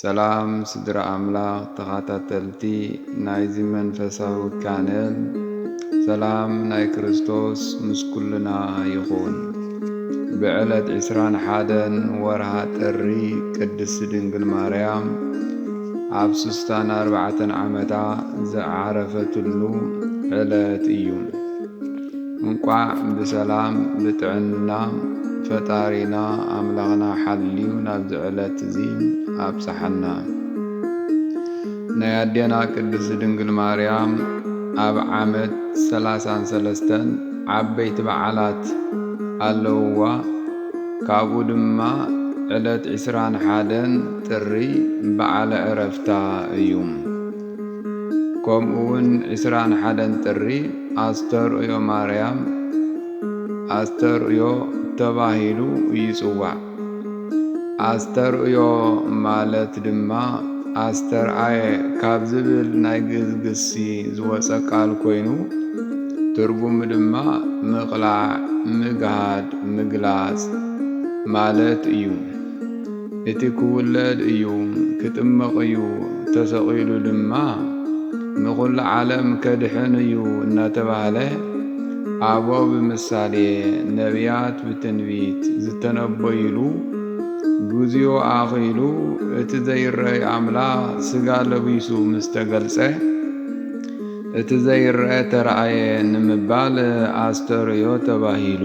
ሰላም ስድራ ኣምላኽ ተኻታተልቲ ናይዚ መንፈሳዊ ቻነል ሰላም ናይ ክርስቶስ ምስ ኩልና ይኹን ብዕለት ዕስራን ሓደን ወርሃ ጥሪ ቅድስቲ ድንግል ማርያም ኣብ ስስታን ኣርባዕተን ዓመታ ዝዓረፈትሉ ዕለት እዩ እንቋዕ ብሰላም ብጥዕና ፈጣሪና ኣምላኽና ሓልዩ ናብዚ ዕለት እዚ ኣብጽሓና። ናይ ኣዴና ቅድስት ድንግል ማርያም ኣብ ዓመት ሰላሳን ሰለስተን ዓበይቲ በዓላት ኣለውዋ ካብኡ ድማ ዕለት ዕስራን ሓደን ጥሪ በዓለ ዕረፍታ እዩ። ከምኡ ውን ዕስራን ሓደን ጥሪ ኣስተርእዮ ማርያም፣ ኣስተርእዮ፣ ተባሂሉ ይጽዋዕ። ኣስተርእዮ ማለት ድማ ኣስተርኣየ ካብ ዝብል ናይ ግእዝ ግሲ ዝወጸ ቃል ኮይኑ ትርጉሙ ድማ ምቕላዕ፣ ምግሃድ፣ ምግላጽ ማለት እዩ። እቲ ክውለድ እዩ ክጥመቕ እዩ ተሰቒሉ ድማ ንኹሉ ዓለም ከድሕን እዩ እናተባህለ ኣበው ብምሳሌ ነብያት ብትንቢት ዝተነበዩሉ ግዚኡ ኣኺሉ እቲ ዘይረኣይ ኣምላኽ ስጋ ለቢሱ ምስ ተገልጸ እቲ ዘይረኣ ተራእየ ንምባል ኣስተርእዮ ተባሂሉ።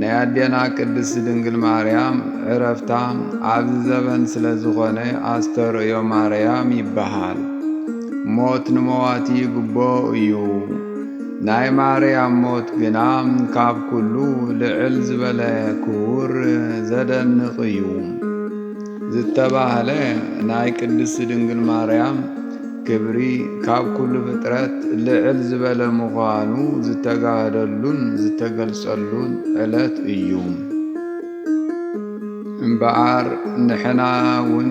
ናይ ኣዴና ቅድስቲ ድንግል ማርያም ዕረፍታ ኣብዚ ዘበን ስለ ዝኾነ ኣስተርእዮ ማርያም ይበሃል። ሞት ንመዋቲ ይግቦ እዩ። ናይ ማርያም ሞት ግና ካብ ኩሉ ልዕል ዝበለ ክቡር ዘደንቕ እዩ ዝተባህለ ናይ ቅድስቲ ድንግል ማርያም ክብሪ ካብ ኩሉ ፍጥረት ልዕል ዝበለ ምዃኑ ዝተጋህደሉን ዝተገልጸሉን ዕለት እዩ። እምበኣር ንሕና እውን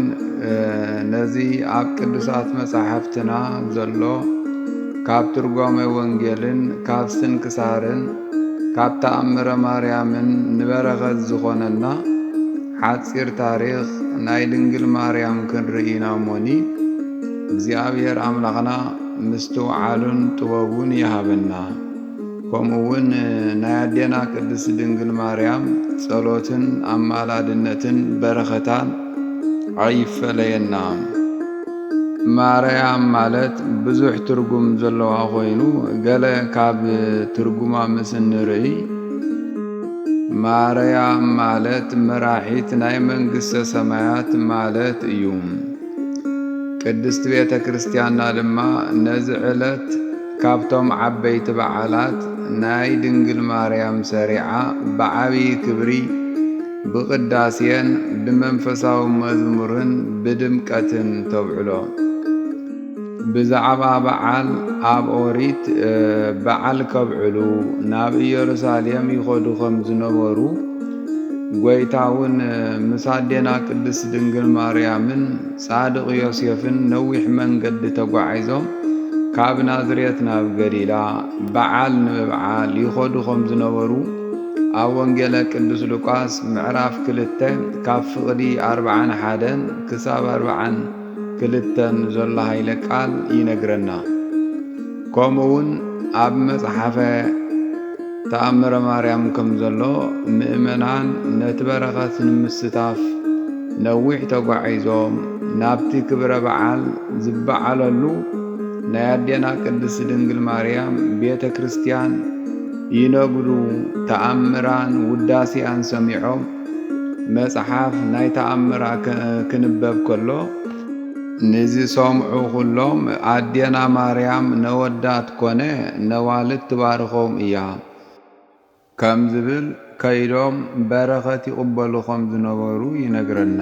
ነዚ ኣብ ቅዱሳት መጻሕፍትና ዘሎ ካብ ትርጓሜ ወንጌልን ካብ ስንክሳርን ካብ ተኣምረ ማርያምን ንበረኸት ዝኾነና ሓጺር ታሪኽ ናይ ድንግል ማርያም ክንርኢና ሞኒ እግዚኣብሔር ኣምላኽና ምስትውዓሉን ጥበቡን ይሃበና ከምኡ ውን ናይ ኣዴና ቅድስት ድንግል ማርያም ጸሎትን ኣማላድነትን በረኸታን ኣይፈለየና። ማርያም ማለት ብዙሕ ትርጉም ዘለዋ ኮይኑ ገለ ካብ ትርጉማ ምስ እንርእይ ማርያም ማለት መራሒት ናይ መንግስተ ሰማያት ማለት እዩ። ቅድስት ቤተ ክርስቲያንና ድማ ነዚ ዕለት ካብቶም ዓበይቲ በዓላት ናይ ድንግል ማርያም ሰሪዓ ብዓብዪ ክብሪ ብቅዳሴን ብመንፈሳዊ መዝሙርን ብድምቀትን ተብዕሎ። ብዛዕባ በዓል ኣብ ኦሪት በዓል ከብዕሉ ናብ ኢየሩሳሌም ይኸዱ ከም ዝነበሩ ጐይታ እውን ምስ ኣዴና ቅድስት ድንግል ማርያምን ጻድቕ ዮሴፍን ነዊሕ መንገዲ ተጓዒዞም ካብ ናዝሬት ናብ ገሊላ በዓል ንምብዓል ይኸዱ ከም ዝነበሩ ኣብ ወንጌለ ቅዱስ ሉቃስ ምዕራፍ ክልተ ካብ ፍቕዲ ኣርብዓን ሓደን ክሳብ ኣርብዓን ክልተ ንዘሎ ኃይለ ቃል ይነግረና። ከምኡ'ውን ኣብ መጽሓፈ ተኣምረ ማርያም ከምዘሎ ምእመናን ነቲ በረኸት ንምስታፍ ነዊሕ ተጓዒዞም ናብቲ ክብረ በዓል ዝበዓለሉ ናይ ኣዴና ቅድስት ድንግል ማርያም ቤተ ክርስቲያን ይነግዱ ተኣምራን ውዳሴኣን ሰሚዖም መጽሓፍ ናይ ተኣምራ ክንበብ ከሎ ንዝሰምዑ ኩሎም ኣዴና ማርያም ነወዳት ኮነ ነዋልድ ትባርኾም እያ ከም ዝብል ከይዶም በረኸት ይቕበሉ ከም ዝነበሩ ይነግረና።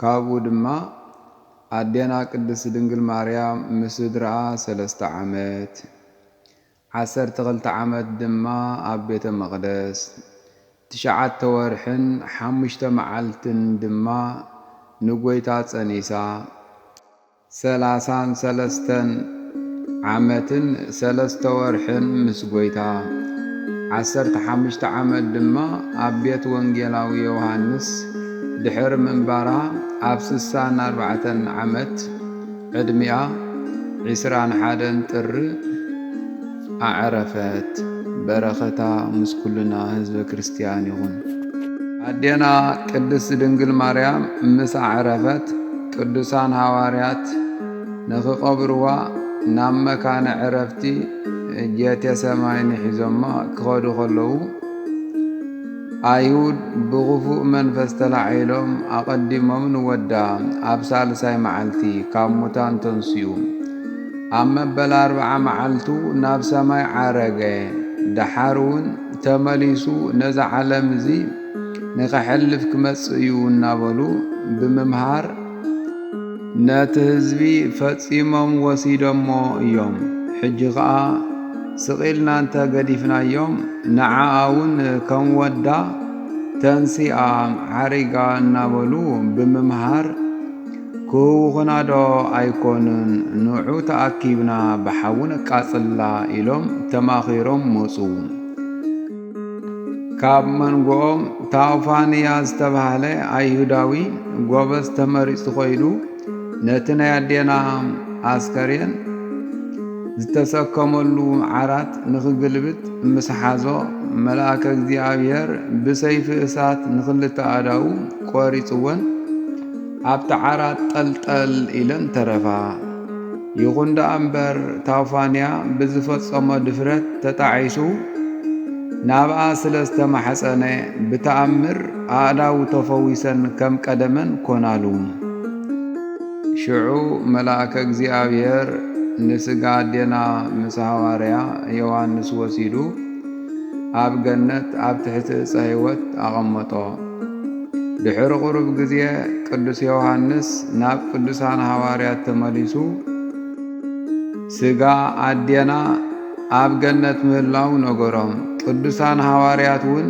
ካብኡ ድማ ኣዴና ቅድስት ድንግል ማርያም ምስ ስድርኣ ሰለስተ ዓመት፣ ዓሰርተ ክልተ ዓመት ድማ ኣብ ቤተ መቕደስ፣ ትሽዓተ ወርሕን ሓሙሽተ መዓልትን ድማ ንጐይታ ጸኒሳ፣ ሰላሳን ሰለስተን ዓመትን ሰለስተ ወርሕን ምስ ጐይታ፣ ዓሰርተ ሓሙሽተ ዓመት ድማ ኣብ ቤት ወንጌላዊ ዮውሃንስ ድሕሪ ምንባራ ኣብ ስሳን ኣርባዕተን ዓመት ዕድሚኣ፣ ዕስራን ሓደን ጥሪ፣ ኣዕረፈት በረከታ ምስ ኩልና ህዝበ ክርስትያን ይኹን። ኣዴና ቅድስት ድንግል ማርያም ምስ ኣዕረፈት ቅዱሳን ሃዋርያት ንክቀብርዋ ናብ መካነ ዕረፍቲ ጌቴሰማኒ ሒዞማ ክኸዱ ከለዉ ኣይሁድ ብክፉእ መንፈስ ተላዒሎም ኣቀዲሞም ንወዳ ኣብ ሳልሳይ መዓልቲ ካብ ሙታን ተንስኡ ኣብ መበል ኣርብዓ መዓልቱ ናብ ሰማይ ዓረገ፣ ደሓር እውን ተመሊሱ ነዛ ዓለም እዚ ንኸሕልፍ ክመጽእ እዩ እናበሉ ብምምሃር ነቲ ህዝቢ ፈጺሞም ወሲዶሞ እዮም። ሕጂ ኸኣ ስቕ ኢልና እንተ ገዲፍናዮም ንዓኣ እውን ከም ወዳ ተንሲኣ ዓሪጋ እናበሉ ብምምሃር ክውኹናዶ ኣይኮኑን ንዑ ተኣኪብና ብሓዊ ነቃጽላ ኢሎም ተማኺሮም መጹ። ካብ መንጎኦም ታውፋንያ ዝተባህለ ኣይሁዳዊ ጎበዝ ተመሪጹ ኮይኑ ነቲ ናይ ኣዴና ኣስከሬን ዝተሰከመሉ ዓራት ንኽግልብጥ ምስ ሓዞ መልኣከ እግዚኣብሔር ብሰይፊ እሳት ንኽልተ ኣዳው ቆሪጽወን ኣብቲ ዓራት ጠልጠል ኢለን ተረፋ። ይኹን ደኣ እምበር ታውፋንያ ብዝፈጸሞ ድፍረት ተጣዒሱ ናብኣ ስለ ዝተማሕጸነ ብተኣምር ኣእዳው ተፈዊሰን ከም ቀደመን ኮናሉ። ሽዑ መልኣከ እግዚኣብሔር ንስጋ ኣዴና ምስ ሃዋርያ ዮሃንስ ወሲዱ ኣብ ገነት ኣብ ትሕቲ ዕፀ ሕይወት ኣቐመጦ። ድሕሪ ቁሩብ ግዜ ቅዱስ ዮሐንስ ናብ ቅዱሳን ሃዋርያት ተመሊሱ ስጋ ኣዴና ኣብ ገነት ምህላው ነገሮም። ቅዱሳን ሃዋርያት እውን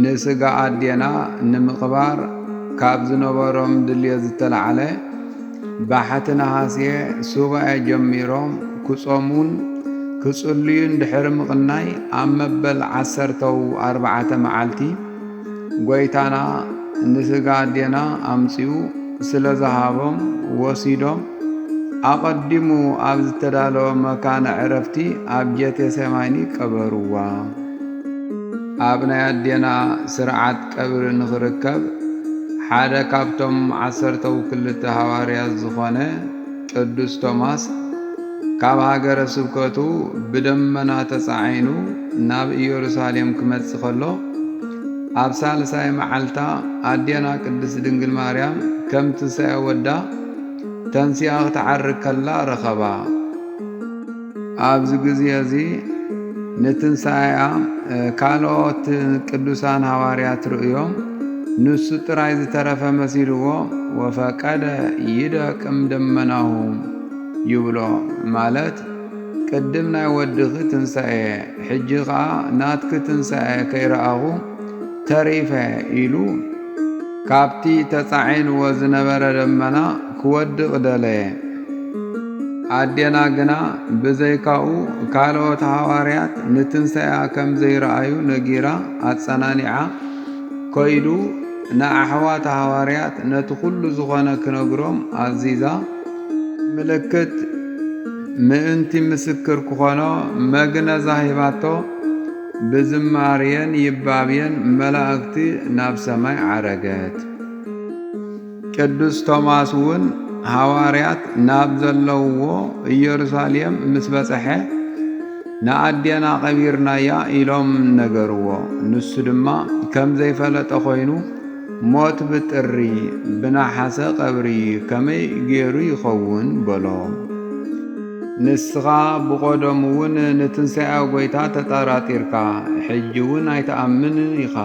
ንስጋ ኣዴና ንምቕባር ካብ ዝነበሮም ድልየት ዝተላዕለ ባሕቲ ነሃሴ ሱባኤ ጀሚሮም ክጾሙን ክጽልዩን ድሕሪ ምቕናይ ኣብ መበል ዓሰርተው ኣርባዓተ መዓልቲ ጐይታና ንስጋ ኣዴና ኣምጺኡ ስለ ዝሃቦም ወሲዶም ኣቐዲሙ ኣብ ዝተዳለወ መካነ ዕረፍቲ ኣብ ጀቴሰማኒ ቀበርዋ። ኣብ ናይ ኣዴና ስርዓት ቀብሪ ንኽርከብ ሓደ ካብቶም ዓሰርተው ክልተ ሃዋርያት ዝኾነ ቅዱስ ቶማስ ካብ ሃገረ ስብከቱ ብደመና ተጻዒኑ ናብ ኢየሩሳሌም ክመጽእ ከሎ ኣብ ሳልሳይ መዓልታ ኣዴና ቅድስት ድንግል ማርያም ከም ትንሣኤ ወዳ ተንሲኣ ክትዓርግ ከላ ረኸባ። ኣብዚ ግዜ እዚ ንትንሣኤኣ ካልኦት ቅዱሳን ሃዋርያት ርእዮም ንሱ ጥራይ ዝተረፈ መሲልዎ ወፈቀደ ይደቅም ደመናሁ ይብሎ ማለት ቅድም ናይ ወድኺ ትንሣኤ ሕጂ ኸዓ ናትኪ ትንሣኤ ከይረኣኹ ተሪፈ ኢሉ ካብቲ ተጻዒንዎ ዝነበረ ደመና ክወድቕ ደለየ። ኣዴና ግና ብዘይካኡ ካልኦት ሃዋርያት ንትንሳኤኣ ከም ዘይረኣዩ ነጊራ ኣጸናኒዓ ከይዱ ንኣሕዋታ ሃዋርያት ነቲ ኩሉ ዝኾነ ክነግሮም ኣዚዛ ምልክት ምእንቲ ምስክር ክኾኖ መግነዛ ሂባቶ። ብዝማርየን ይባብየን መላእክቲ ናብ ሰማይ ዓረገት። ቅዱስ ቶማስ እውን ሃዋርያት ናብ ዘለውዎ ኢየሩሳሌም ምስ በጽሐ ንኣዴና ቀቢርናያ ኢሎም ነገርዎ። ንሱ ድማ ከም ዘይፈለጠ ኮይኑ ሞት ብጥሪ ብነሓሰ ቀብሪ ከመይ ገይሩ ይኸውን በሎ። ንስኻ ብቆደሙውን ንትንሳኤ ጎይታ ተጠራጢርካ ሕጂውን ኣይትኣምንን ኢኻ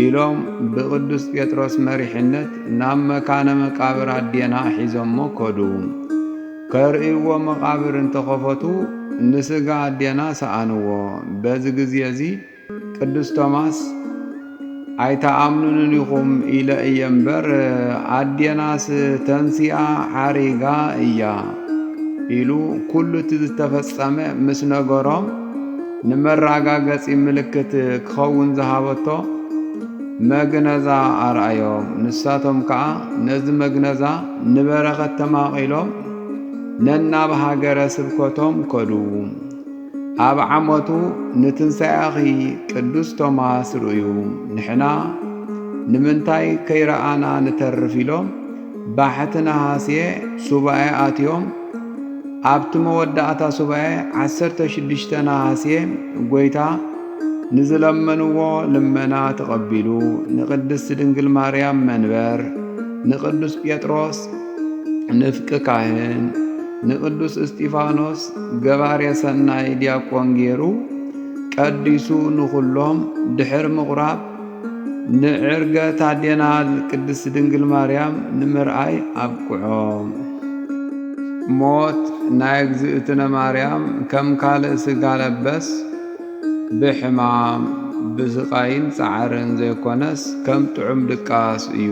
ኢሎም ብቅዱስ ጴጥሮስ መሪሕነት ናብ መካነ መቃብር ኣዴና ሒዞሞ ከዱ። ከርእይዎ መቃብር እንተኸፈቱ ንስጋ ኣዴና ሰኣንዎ። በዚ ግዜ እዚ ቅዱስ ቶማስ ኣይተኣምኑንን ኢኹም ኢለ እየ እምበር ኣዴናስ ተንሲኣ ዓሪጋ እያ ኢሉ ኩሉ እቲ ዝተፈጸመ ምስ ነገሮም ንመራጋገጺ ምልክት ክኸውን ዝሃበቶ መግነዛ ኣርኣዮም ንሳቶም ከኣ ነዚ መግነዛ ንበረኸት ተማቒሎም ነናብ ሃገረ ስብከቶም ከዱ። ኣብ ዓመቱ ንትንሣኤኺ ቅዱስ ቶማስ ርእዩ ንሕና ንምንታይ ከይረኣና ንተርፍ ኢሎም ባሕቲ ነሃስየ ሱባኤ ኣትዮም ኣብቲ መወዳእታ ሱባኤ 16 ነሃስየ ጐይታ ንዝለመንዎ ልመና ተቐቢሉ ንቅድስት ድንግል ማርያም መንበር ንቅዱስ ጴጥሮስ ንፍቂ ካህን ንቅዱስ እስጢፋኖስ ገባሬ ሰናይ ዲያቆን ገይሩ ቀዲሱ ንኹሎም ድሕር ምቑራብ ንዕርገ ታዴናል ቅድስት ድንግል ማርያም ንምርኣይ ኣብቅዖም። ሞት ናይ እግዝእትነ ማርያም ከም ካልእ ስጋ ለበስ ብሕማም ብስቃይን ጻዕርን ዘይኮነስ ከም ጥዑም ድቃስ እዩ።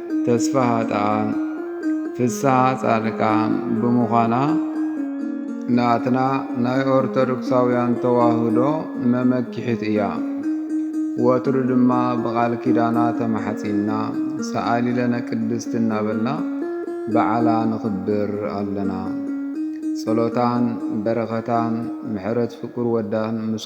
ተስፋሃጣኣን ፍስሃ ጻድቃን ብምዃና ናትና ናይ ኦርቶዶክሳውያን ተዋህዶ መመኪሒት እያ። ወትሩ ድማ ብቓል ኪዳና ተማሕጺንና ሰኣሊለነ ቅድስቲ እናበልና በዓላ ንኽብር ኣለና። ጸሎታን በረኸታን ምሕረት ፍቁር ወዳን ምስ